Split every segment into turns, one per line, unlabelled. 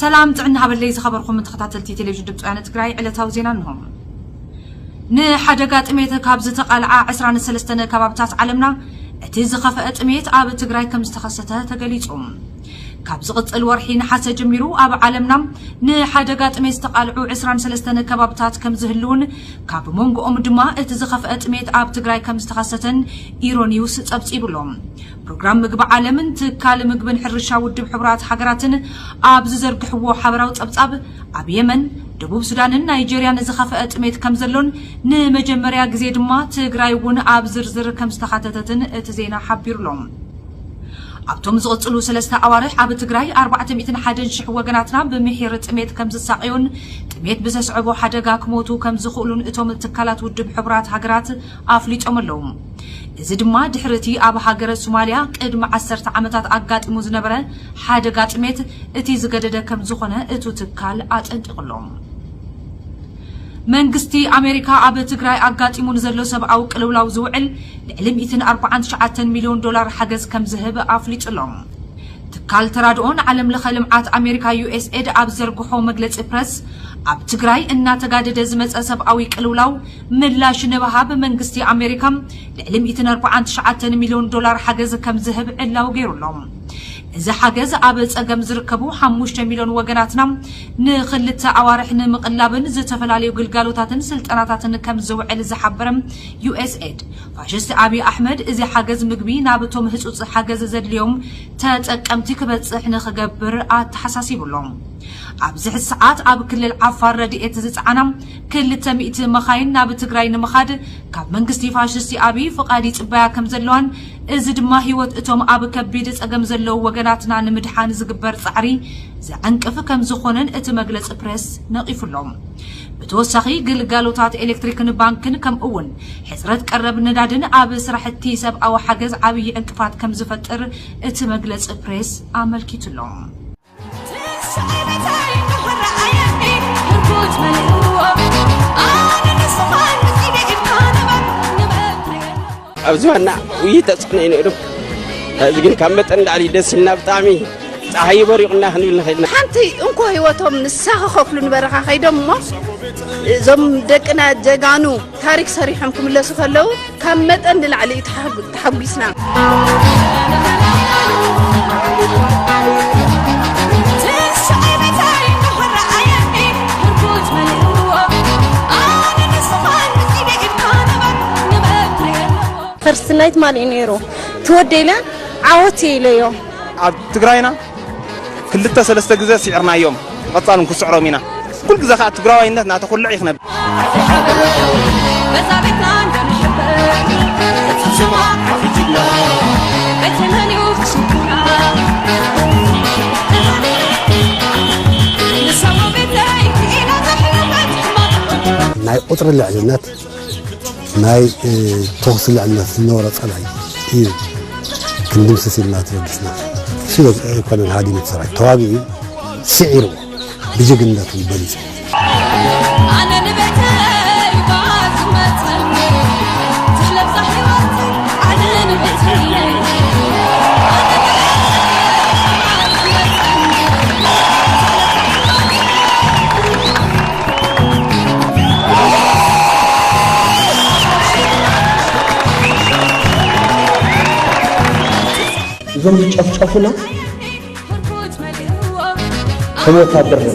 ሰላም ጥዕና ሃበለይ ዝኸበርኩም ተኸታተልቲ ቴሌቪዥን ድምፂ ወያነ ትግራይ ዕለታዊ ዜና እንሆ። ንሓደጋ ጥሜት ካብ ዝተቓልዓ 23 ከባብታት ዓለምና እቲ ዝኸፈአ ጥሜት ኣብ ትግራይ ከም ዝተኸሰተ ተገሊጹ። ካብ ዝቕጽል ወርሒ ነሓሰ ጀሚሩ ኣብ ዓለምና ንሓደጋ ጥሜት ዝተቓልዑ 23 ከባብታት ከም ዝህልውን ካብ መንጎኦም ድማ እቲ ዝኸፈአ ጥሜት ኣብ ትግራይ ከም ዝተኸሰተን ኢሮኒውስ ጸብጺቡሎም። ፕሮግራም ምግቢ ዓለምን ትካል ምግብን ሕርሻ ውድብ ሕቡራት ሃገራትን ኣብ ዝዘርግሕዎ ሓበራዊ ጸብጻብ፣ ኣብ የመን፣ ደቡብ ሱዳንን ናይጀርያን ዝኸፈኣ ጥሜት ከምዘሎን ንመጀመርያ ግዜ ድማ ትግራይ እውን ኣብ ዝርዝር ከምዝተኻተተትን እቲ ዜና ሓቢሩ'ሎ። ኣብቶም ዝቕጽሉ ሰለስተ ኣዋርሕ ኣብ ትግራይ ኣርባዕተ ሚእትን ሓደን ሽሕ ወገናትና ብምሒር ጥሜት ከምዝሳቐዩን ጥሜት ብዘስዕቦ ሓደጋ ክሞቱ ከምዝኽእሉን እቶም ትካላት ውድብ ሕቡራት ሃገራት ኣፍሊጦም ኣለዉ። እዚ ድማ ድሕሪ እቲ ኣብ ሃገረ ሱማሊያ ቅድሚ ዓሰርተ ዓመታት ኣጋጢሙ ዝነበረ ሓደጋ ጥሜት እቲ ዝገደደ ከምዝኾነ እቱ ትካል ኣጠንቂቑ ኣሎ። መንግስቲ ኣሜሪካ ኣብ ትግራይ ኣጋጢሙ ንዘሎ ሰብኣዊ ቅልውላው ዝውዕል ልዕሊ ሚእትን ኣርብዓን ትሽዓተን ሚልዮን ዶላር ሓገዝ ከምዝህብ ኣፍሊጡ ኣሎ። ትካል ተራድኦ ንዓለም ለኸ ልምዓት ኣሜሪካ ዩኤስኤድ ኣብ ዘርግሖ መግለፂ ፕረስ ኣብ ትግራይ እናተጋደደ ዝመፀ ሰብኣዊ ቅልውላው ምላሽ ንምሃብ መንግስቲ ኣሜሪካ ልዕሊ ሚእትን ኣርብዓን ትሽዓተን ሚልዮን ዶላር ሓገዝ ከም ዝህብ ዕላዊ ገይሩ ኣሎ። እዚ ሓገዝ ኣብ ጸገም ዝርከቡ ሓሙሽተ ሚልዮን ወገናትና ንኽልተ ኣዋርሕ ንምቕላብን ዝተፈላለዩ ግልጋሎታትን ስልጠናታትን ከም ዝውዕል ዝሓበረ USAID፣ ፋሽስት ኣብዪ ኣሕመድ እዚ ሓገዝ ምግቢ ናብቶም ህጹጽ ሓገዝ ዘድልዮም ተጠቀምቲ ክበጽሕ ንኽገብር ኣተሓሳሲቡ ኣሎ። ኣብዚ ሕዚ ሰዓት ኣብ ክልል ዓፋር ረድኤት ዝጸዓና ክልተ ሚእቲ መኻይን ናብ ትግራይ ንምኻድ ካብ መንግስቲ ፋሽስቲ ኣብይ ፍቓድ ይጽበያ ከምዘለዋን እዚ ድማ ህይወት እቶም ኣብ ከቢድ ጸገም ዘለዉ ወገናትና ንምድሓን ዝግበር ጻዕሪ ዘዐንቅፍ ከምዝኾነን እቲ መግለጺ ፕረስ ነቒፉ ኣሎ። ብተወሳኺ ግልጋሎታት ኤሌክትሪክን ባንክን ከምኡ'ውን ሕጽረት ቀረብ ነዳድን ኣብ ስራሕቲ ሰብኣዊ ሓገዝ ዓብዪ ዕንቅፋት ከምዝፈጥር እቲ መግለጺ ፕሬስ ኣመልኪቱ ኣሎ።
ኣብ ዝባና ውይ ተፅዕኖ እዩ ነይሩ እዚ ግን ካብ መጠን ላዕሊ ደስ ኢልና ብጣዕሚ ፀሓይ በሪቑና ክንብል ንኽእል ኢና ሓንቲ እንኮ ህይወቶም
ንሳ ክኸፍሉ ንበረኻ ከይዶም እሞ እዞም ደቅና ጀጋኑ ታሪክ ሰሪሖም ክምለሱ ከለው ካብ መጠን ንላዕሊ እዩ ተሓጒስና።
ፈርስት ናይት ማን እዩ ነይሩ ትወደይለ ዓወት ኢለዮ ኣብ ትግራይና
ክልተ ሰለስተ ግዘ ሲዕርናዮም ብቀፃል ውን ክስዕሮም ኢና ኩሉ ግዘ ከዓ ትግራዋይነት ናተኹልዕ እዩ ክነብር
ናይ ቁፅሪ ልዕልነት ናይ ተኹሲ ልዕልነት ዝነበሮ ፀላኢ እዩ ክንድምስስ ኢልና ተበጊስና ሽዶ ኮሎኔል ሃዲሙ ሰራዊት ተዋጊኡ ስዒርዎ ብጅግንነቱ በሊፁ
እዞም ዝጨፍጨፉና ከም ወታደር ነ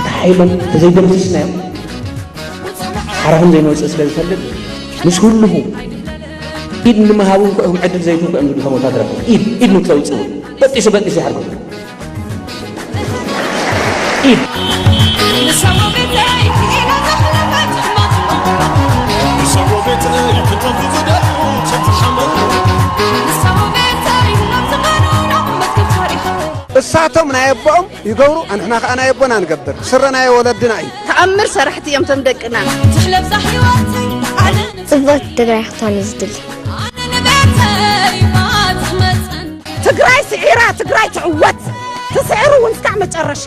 እቲ ሓይሎም ተዘይደምስስናዮም ሓራኹም ዘይመውፅእ ስለ ዝፈልጥ ምስ ህልኹ ኢድ ንምሃብ እውን ክኦም ዕድል ዘይትንኩ እዮም ዝብሉ ከም ወታደር ኢድ ኢድ ንክተውፅኡ በጢሱ በጢሱ ይሓርኩም
እሳቶም ናይ ኣቦኦም ይገብሩ ኣንሕና ከዓ ናይ ኣቦና ንገብር ስረ ናይ ወለድና እዩ ተኣምር ሰራሕቲ እዮም
ቶም ደቅና
ጽብቕቲ
ትግራይ ክትኮን እዩ ዝድሊ
ትግራይ ስዒራ ትግራይ ትዕወት ትስዕር እውን እስካዕ መጨረሻ።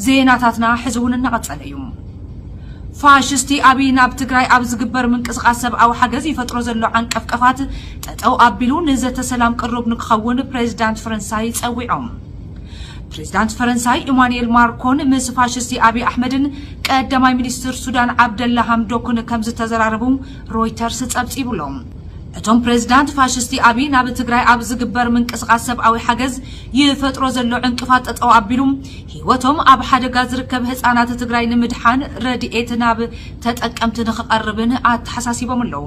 ዜናታትና ሕዚ እውን እናቐጸለ እዩ። ፋሽስቲ ኣብይ ናብ ትግራይ ኣብ ዝግበር ምንቅስቓስ ሰብኣዊ ሓገዝ ይፈጥሮ ዘሎ ዓንቀፍቀፋት ጠጠው ኣቢሉ ንዘተ ሰላም ቅሩብ ንክኸውን ፕሬዚዳንት ፈረንሳይ ጸዊዖም። ፕሬዚዳንት ፈረንሳይ ኢማኑኤል ማርኮን ምስ ፋሽስቲ ኣብይ ኣሕመድን ቀዳማይ ሚኒስትር ሱዳን ዓብደላ ሃምዶክን ከምዝተዘራረቡ ሮይተርስ ፀብፂቡ ኣሎ። እቶም ፕሬዚዳንት ፋሽስቲ ኣብይ ናብ ትግራይ ኣብ ዝግበር ምንቅስቓስ ሰብኣዊ ሓገዝ ይፈጥሮ ዘሎ ዕንቅፋት ጠጠው ኣቢሉ ህይወቶም ኣብ ሓደጋ ዝርከብ ህፃናት ትግራይ ንምድሓን ረድኤት ናብ ተጠቀምቲ ንክቐርብን ኣተሓሳሲቦም ኣለው።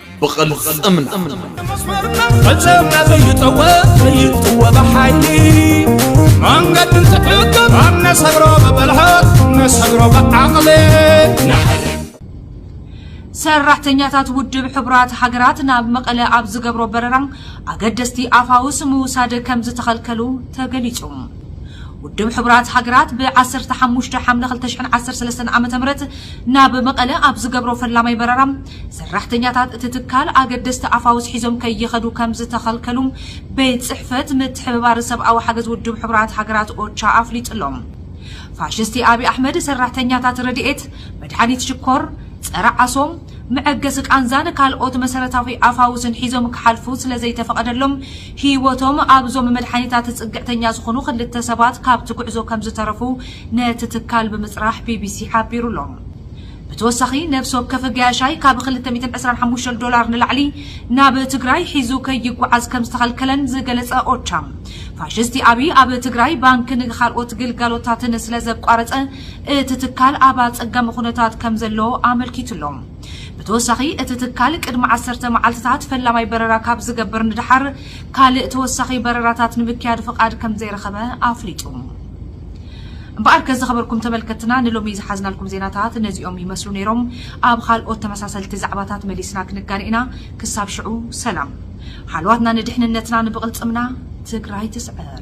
ብቕልፅምና
ፈፀምና ዘይጠወ ዘይጥወ ብሓይሊ መንገዲ እንትሕግም ኣብ ነሰግሮ ብብልሃት ነሰግሮ ብዓቕሊ
ሰራሕተኛታት ውድብ ሕቡራት ሃገራት ናብ መቐለ ኣብ ዝገብሮ በረራ ኣገደስቲ ኣፋውስ ምውሳድ ከም ዝተኸልከሉ ተገሊጹ። ውድብ ሕቡራት ሃገራት ብ15 ሓምለ 2013 ዓ ም ናብ መቐለ ኣብ ዝገብሮ ፈላማይ በረራ ሰራሕተኛታት እቲ ትካል ኣገደስቲ ኣፋውስ ሒዞም ከይኸዱ ከምዝተኸልከሉ ቤት ጽሕፈት ምትሕብባር ሰብኣዊ ሓገዝ ውድብ ሕቡራት ሃገራት ኦቻ ኣፍሊጡ'ሎ። ፋሽስቲ ኣብይ ኣሕመድ ሰራሕተኛታት ረድኤት፣ መድሓኒት ሽኮር፣ ጸረ ዓሶ፣ መዐገሲ ቃንዛን ካልኦት መሰረታዊ ኣፋውስን ሒዞም ክሓልፉ ስለዘይተፈቐደሎም ህይወቶም ኣብዞም መድሓኒታት ጽግዕተኛ ዝኾኑ ክልተ ሰባት ካብቲ ጉዕዞ ከምዝተረፉ ነቲ ትካል ብምጽራሕ ቢቢሲ ሓቢሩ'ሎ። ብተወሳኺ ነብሲ ወከፍ ገያሻይ ካብ ክልተ ሚእትን ዕስራን ሓሙሽተን ዶላር ንላዕሊ ናብ ትግራይ ሒዙ ከይጓዓዝ ከምዝተኸልከለን ዝገለፀ ኦቻ፣ ፋሽስቲ ኣብይ ኣብ ትግራይ ባንክን ኻልኦት ግልጋሎታትን ስለዘቋረፀ እቲ ትካል ኣብ ኣፀጋሚ ኹነታት ከምዘሎ ኣመልኪቱ'ሎ። ብተወሳኺ እቲ ትካል ቅድሚ ዓሰርተ መዓልቲታት ፈላማይ በረራ ካብ ዝገብር ንደሓር ካልእ ተወሳኺ በረራታት ንምክያድ ፍቓድ ከምዘይረኸበ ኣፍሊጡ። እምበኣርከስ ዝኸበርኩም ተመልከትትና ንሎሚ ዝሓዝናልኩም ዜናታት ነዚኦም ይመስሉ ነይሮም። ኣብ ኻልኦት ተመሳሰልቲ ዛዕባታት መሊስና ክንጋነ ኢና። ክሳብ ሽዑ ሰላም። ሓልዋትና ንድሕንነትና ንብቕልፅምና ትግራይ ትስዕር!